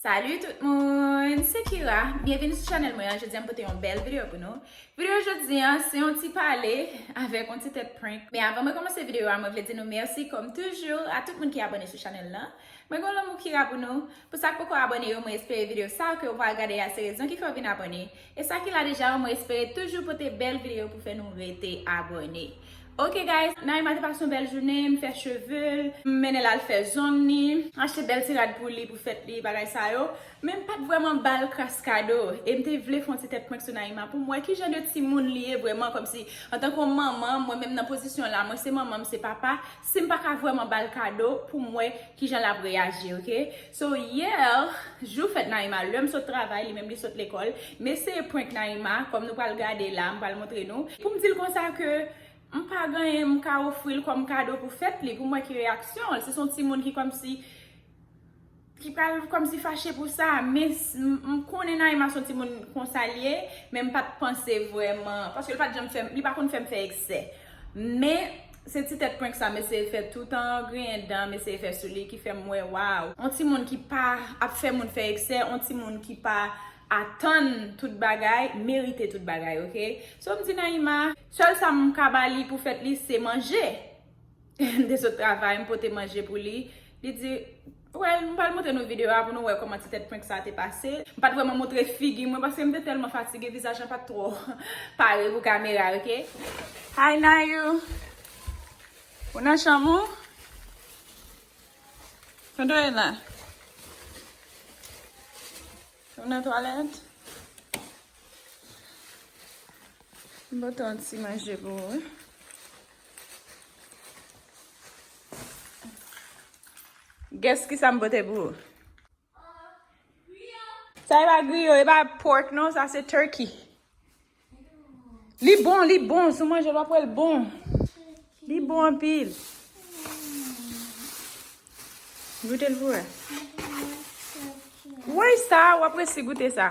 Salut tout moun! Se Kira, byenvini sou chanèl mwen an, jodi an m pote yon bèl videyo pou nou. Videyo jodi an se yon ti pale avèk yon ti tèt prank. Men avan mwen kòmanse videyo a mwen vle di nou mèsi kòm toujou a tout moun ki abòne sou chanèl lan. Mwen gen yon lanmou Kira pou nou. Pou sa k poko abòne yo mwen espere videyo sa ke ou pral gade a se rezon ki fè ou vin abòne. E sa ki la deja yo mwen espere toujou pote bèl video pou fè nou rete abòne ok guys Naïma te pase yon bèl jounen m fè chevel m mennen l al fè zong ni m achte bèl ti rad pou li pou fèt li bagay sa yo men m pat vrèman bal kras kado e m te vle fè yon ti tèt prank sou Naïma pou m wè kijan de timoun li ye vrèman kòmsi antanke yon manman mwen menm nan pozisyon la mwen se manman m se papa Sim paka vrèman bal kado poum wè kijan lap reyaji ok so hier jou fèt Naïma lèm sot travay li menm li sot lekòl m eseye prank Naïma kòm nou pral gade la m pral montre nou poum dil konsa ke m pa gen anyen m ka ofril kòm kado pou fèt li poum wè ki reyaksyon l si son timoun ki kòmsi ki pral kòmsi fache pou sa, men m konnen Naïma son ti moun konsa l ye, men m pa t panse vrèman, paske l pa t janm fè m, li pa konn fè m fè eksè. Men, se ti tèt prank sa m eseye fè tout an, griyen dan m eseye fè sou li ki fè m wè waw, on ti moun ki pa ap fè moun fè eksè, on ti moun ki pa atann tout bagay, merite tout bagay ok. So m di Naïma, sèl sa m ka ba li pou fèt li se manje. M te sot travay, m pote manje pou li. Li di, Well, m pral montre nou videyo a pou nou wè kòman ti tèt prank sa a te pase. M pa t vrèman montre figi mwen paske m te tèlman fatige, vizaj la pa t twò pare pou kamera, ok. Hi Nayou! Ou nan chanm ou? Tande w ye la? Ou nan twalèt? M pote yon ti manje pou ou. Guess kisa m pote pou ou? Sa e pa griyo, e pa pork non, sa se turkey. Li bon, li bon, sou manje wap wèl bon. Li bon anpil. Goute l pou wè. Woy sa, wap resi goute sa.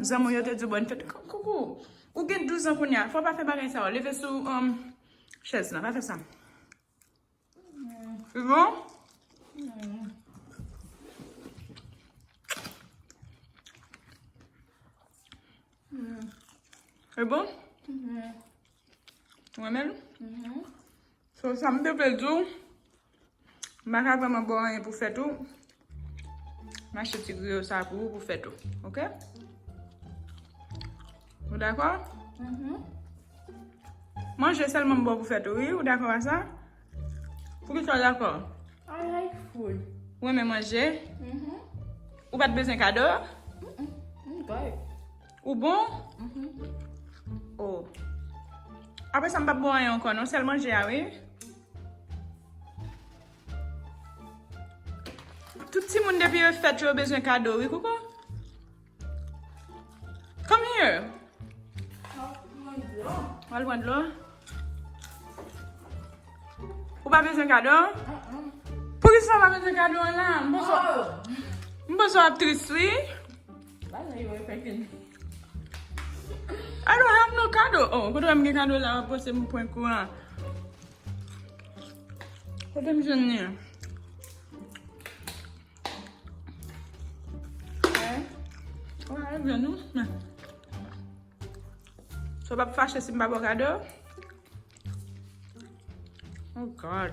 Zanmi yo te di bon fèt. Koukou, ou gen 12 an kounye a, fò pa fè bagay sa yo. Leve sou um, chèz la, pa fè sa. Se bon? Se bon? Ou renmen l? Mhm. So, sa m te vle di w, m pa ka vrèman ba w anyen pou fèt ou, m achte ti griyo sa pou ou pou fèt ou. Ok? Ou dakò? Mhm. Manje sèlman m ba w pou fèt ou, wi? Ou dakò a sa? Poukisa ou dakò? I like food. Ou renmen manje? Mhm. Ou pa t bezwen kado? M m, m good. Ou bon? Mh. Oh. Apre sa m pap bon anyen ankò non, sèl manje a wi. Tout timoun depi yo fèt yo bezwen kado wi kouko. Come here. Wal pran dlo. Ou pa bezwen kado? Poukisa ou pa bezwen kado an la? M panse w ap tris wi. Bagay yo e fèk vin. I don't have no kado. Oh, kote wè m gen kado la wap pwese m pwen kou an. Kote m jwenn ni an. Sou pa fache si m pa bo kado. Oh God.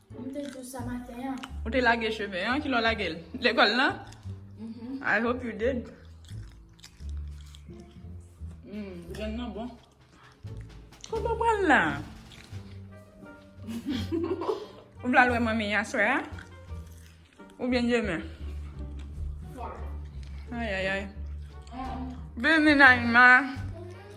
M te dous sa maten an. Ou te lage cheve an? Kilè w lage l? Lekòl lan? I hope you did. Humm, grenn nan bon. Kote w pral la? Ou pral wè manmi aswè a? Ou byen jemen? Ayayay. Bini Naima.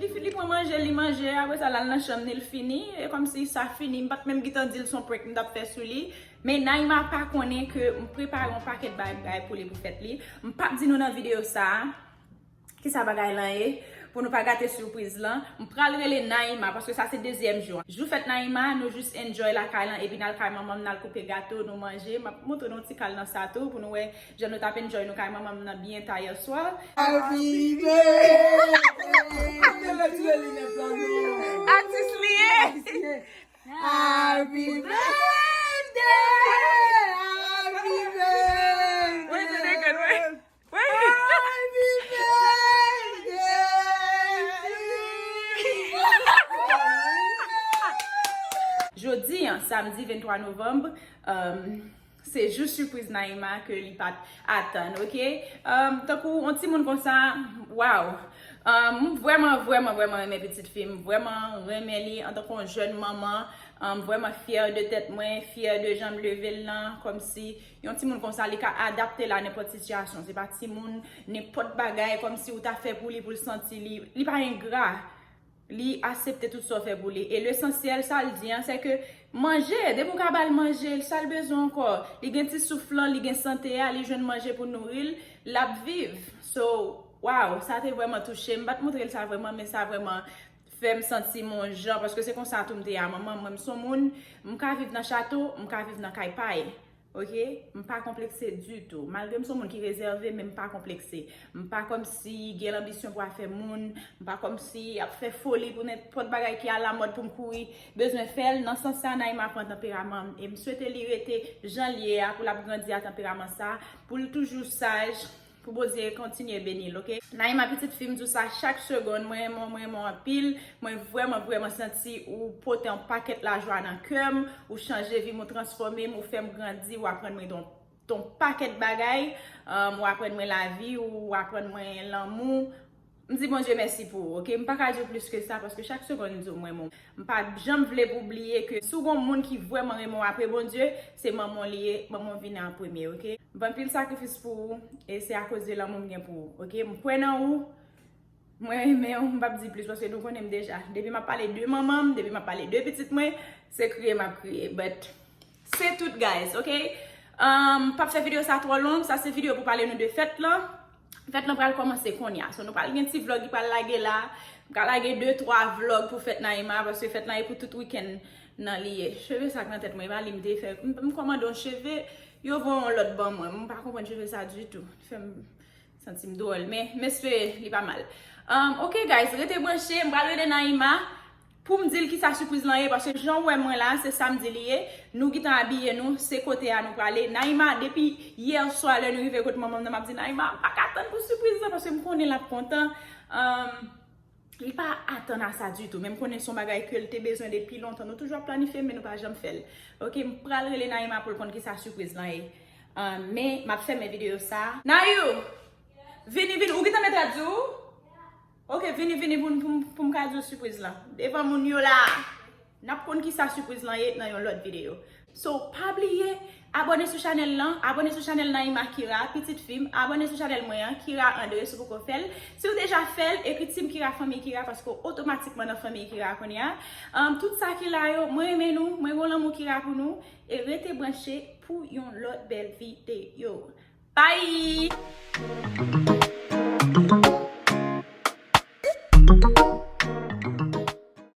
Li fi li pran manje li manje apre sa lal nan chanm li l fini e kòm si sa fini m pat menm gitan di l son prank m tap fè sou li men Naima pa konnen ke m prepare yon pakèt bagay pou li pou fèt li m pap di nou nan videyo sa. Kisa bagay lan ye? Pou nou pa gate surprise lan, m pral rele Naïma paske sa se dezyèm jou an. Jou fèt Naïma, nou jus enjoy lakay lan epi nal kay manmanm nal koupe gato, nou manje. Map montre nou ti kal nan sa tou pou nou wè jan nou tap enjoy nou kay manmanm nan byen ta yèswa. Happy birthday to you. Atis li ye. Happy birthday. Happy birthday. Jodi an, samdi 23 novanb, se jou sipriz Naïma ke li pat atann ok. Tankou yon timoun konsa, waw. M vrèman, vrèman, vrèman renmen pitit fi m. M vrèman renmen li antanke yon jèn manman. M vrèman fyè de tèt mwen, fyè de jan m leve l lan. Kòmsi Yon timoun konsa li ka adapte l a nenpòt sitiyasyon. Se pa timoun nenpòt bagay kòm si ou ta fè pou li pou l santi li. Li pa engra. Li asepte tout sa w fè pou li. E lesansyèl sa l di an se ke manje, depi ou ka ba l manje, sa l bezwen ankò. Li gen ti souf lan, li gen sante a, li jwenn manje pou nouri l, l ap viv. So, waww, sa te vrèman touche m. M pa t montre l sa vrèman men sa vrèman fèm santim on jan paske se konsa tou m te a manman mwen m son moun m ka viv nan chato m ka viv nan kay pay ok m pa konplekse ditou malgre m son moun ki rezève men m pa konplekse m pa kòmsi gen lanbisyon pou afè moun m pa kòmsi ap fè foli pou nenpòt bagay ki alamòd pou m kouri bezwen fèl nan sans sa Naima pran tanperaman m e m swete li rete janl ye a pou lap grandi a tanperaman sa poul toujou saj. Pou Bondye kontinye beni l ok. Naïma pitit fim diw sa chak segonn mwen renmen w mwen renmen w anpil mwen vrèman vrèman santi ou pote yon pakèt lajwa nan kèm ou chanje vim ou transfòme m ou fèm grandi ou aprann mwen yon pakèt bagay ou aprann mwen lavi ou aprann mwen lanmou M di Bondye mèsi pou ou ok. M pa ka di w plis ke sa paske chak segonn m di w m renmen w. M pa janm vle pou w bliye ke si w gon moun ki vrèman renmen w apre Bondye, se manman w li ye, manman w vini an premye ok. M fè anpil sakrifis pou ou e se akoz de lanmou m gen pou ou ok. M kwè nan ou, mwen renmen w, m pap di plis paske nou konnen m deja. Depi m ap pale de manman m, depi m ap pale de pitit mwen, se kriye m ap kriye but Se tout guys ok M pap fè video sa twò long Sa se video pou pale nou de fèt lan Fèt lan pral kòmanse konya So nou pral gen ti vlog ki pral lage la M ka lage 2 3 vlog pou fèt Naïma Paske fèt lan e pou tout weekend nan li ye Cheve sa k nan tèt mwen e pa li m te fè M kòmande yon cheve Yo voye yon lòt ban mwen M pa konprann cheve sa ditou Fè m Santim dwòl men m espere li pa mal Ok guys rete branche m pral rele Naïma poum dil kisa surprise lan ye paske janw wè mwen la se samedi li ye nou gntan abiye nou se kote a nou prale Naïma depi hier soir lè nou rive kot manmanm nan map di Naïma m paka tann pou surprise lan paske m konnen lap kontan. Li pa atann a sa ditou, men m konnen son bagay ke l te bezwen depi lontan. Nou toujou ap planifye l, men nou pa janm fè l. Ok, m pral rele Naïma pou l konn kisa sipriz lan ye. Men, m ap fèmen videyo sa. Nayou! Vini, vini. Ou gentan met rad sou ou? Ok, vini, vini pou m ka di w sipriz lan. Devan moun yo la! Nap konn kisa surprise lan ye nan yon lòt video. So pa bliye Abone sou chanel lan Abone sou chanel Naïma Kira pitit fim Abone sou chanel mwen an Kira Andre si w poko fèl Siw deja fèl ekri Team Kira Fanmiy Kira paske w otomatikman nan Fanmiy Kira kounya Tout sa ki la yo mwen renmen nou mwen gen yon lanmou Kira pou nou e rete branche pou yon lòt bèl video Bye.